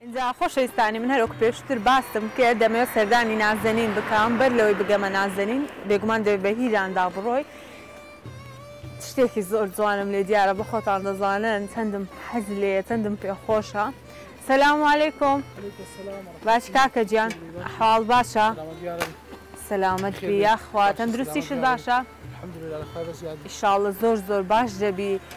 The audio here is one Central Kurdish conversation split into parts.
ئینجا خۆشەویستانی من هەر وەکو پێشوتر باسم کرد دەمەوێت سەردانی نازەنین بکەم بەر لەوەی بگەمە نازەنین بێگومان دەبێت بە هیراندا بڕۆی شتێکی زۆر جوانم لێ دیارە بە خۆتان دەزانن چەندم حەز لێیە چەندم پێ خۆشە سلام علیکم باش کاکە گیان حاڵ باشە سلامت بی یاخوا تەندروستیشت باشە ان شاء اللە زۆر زۆر باش دەبی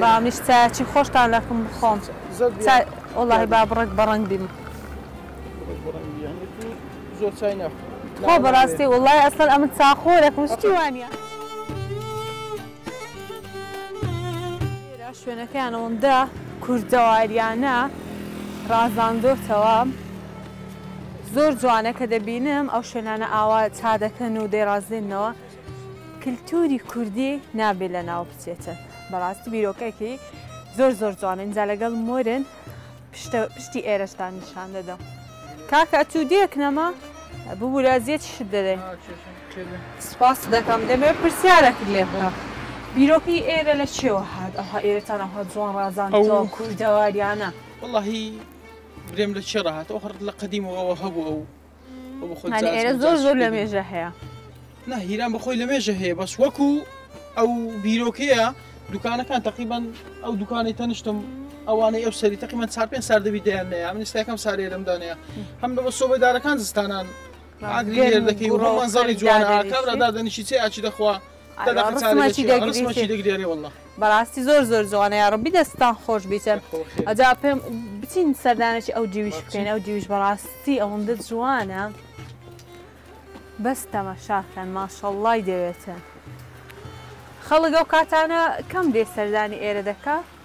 با منیش چایەکی خۆشتان لەکم بخۆم چای وەڵاهی با بڕێک بەڕەنگ بیم. تخوا بەڕاستی وەڵاهی ئەسڵەن ئەمن چا خۆرەکم شتی وا نیە. ئێرە شوێنەکەیان ئەوەندە کوردەواریانە ڕازاندۆتەوە زۆر جوانە کە دەبینم ئەو شوێنانە ئاوا چا دەکەن و دەیڕازێننەوە. کلتوری کوردی نابێ لە ناو بچێتن بەڕاستی بیرۆکەکی زۆر زۆر جوانە ئینجا لەگەڵ مۆرن پشتی ئێرەشتان نیشان دەدەم کاکە ئەتوو دێک نەما ببوو لە زیێت شت دەدەێ سپاس دەکەم دەمێ پرسیارەکت لێ بکەم بیرۆکی ئێرە لە چێوە هاات ئەوها ئێرەتان ئەوها جوان ڕازان ئەوە کوردەواریانە وڵی برێم لە چێڕە هاات ئەو هەڕ لە قەدیمەوە ئەوە هەبوو ئەو ئێرە زۆر زۆر لە مێژە هەیە نە هیران بەخۆی لە مێژە هەیە بەس وەکو ئەو بیرۆکەیە دوکانەکان تقریبان ئەو دوکانی تەنیشتم ئەوانەی ئەو سەری تقریبان چار پێ سار دەبی دەیان نەیە من ئستاکەم سارێ لەمدانەیە هەم لەەوە سۆبەدارەکان زستانان ئاگری دەکەی و ڕۆمانزاری جوانەکەڕدا دەنیشی چێ ئاچی دەخوا بەڕاستی زۆر زۆر جوانە یا ڕبی دەستان خۆش بیتە ئەجا پێم بچین سەردانێکی ئەو دیویش بکەین ئەو دیویش بەڕاستی ئەوەندە جوانە بەس تەمەشاکەن ماشەڵڵای دەوێتە خەڵک ئەو کاتانە کەم دێ سەردانی ئێرە دەکە